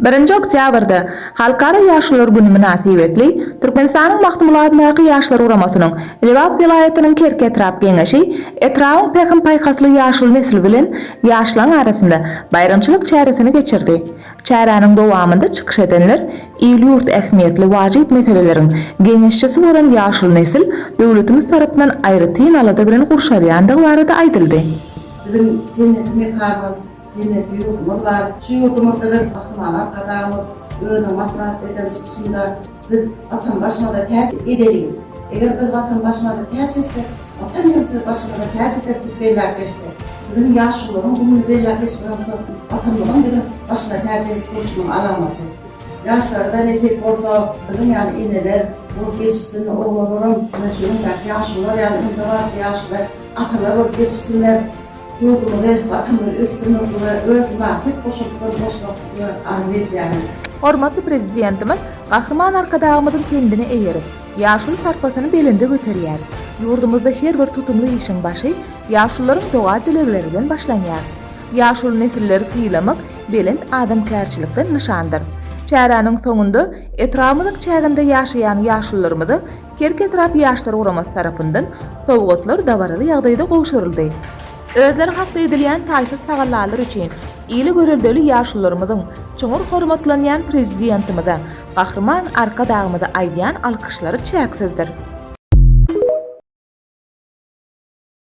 Birinji oktýabrda, Halkara ýaşlar güni mynasybetli, Türkmenistanyň Magtymguladyndaky Ýaşlar guramasynyň Lebap welaýatynyň Kerki etrap Geňeşi etrabyň pähim-paýhasly ýaşuly nesli bilen ýaşlaryň arasynda baýramçylyk çäresini geçirdi. Çäräniň dowamynda çykyş edenler il-ýurt ähmiýetli wajyp meseleleriň geňeşçisi bolan ýaşuly nesil döwletimiz tarapyndan aýratyn alada bilen gurşalýandygy barada aýdyldy. Biziň jenneti mekanymyz. Jenneti ýurdumyz bar. Şu ýurdumyzda hem Gahryman Arkadagymyz özüniň maslahat eden çykyşynda Biz Watanbaşymyza täç edeliň. Eger biz Watanbaşymyza täç etsek, Watan hem sizi başymyza täç eder diýip belläp geçdi. Biziň ýaşulularyň gününi belläp geçmek hem şol Watanymyzyň biziň başyna täç edip durşunyň alamaty. Ýaşlara-da nesip bolsa, biziň ýaly eneler bolup ýetişsin, oglalaram ine şu günkäki ýaşulular ýaly öňdebaryjy ýaşuly atalar bolup ýetişsinler. Ýurdumyzy, Watanymyzy ösdürmek we öz mynasyp goşantlaryny goşmaklygyňy arzuw edýärin. Hormatly Prezidentimiz Gahryman Arkadagymyzyň pendine eýerip, ýaşuly sarpasyny belende göterýär. Ýurdumyzda her bir tutumly işiň başy ýaşulularyň doga-dilegleri bilen başlanýar. Ýaşuly nesilleri sylamak belent adamkärçilikden nyşandyr. Çäräniň soňunda etrabymyzyň çäginde ýaşaýan ýaşulularymyza Kerki etrap Ýaşlar guramasy tarapyndan sowgatlar dabaraly ýagdaýda gowşuryldy. Özleri hakda edilýän taýsyz tagallalary üçin ýyly göreldeli ýaşularymyzyň çuňňur hormatlanýan Prezidentimize, Gahryman Arkadagymyza aýdýan alkyşlary çäksizdir.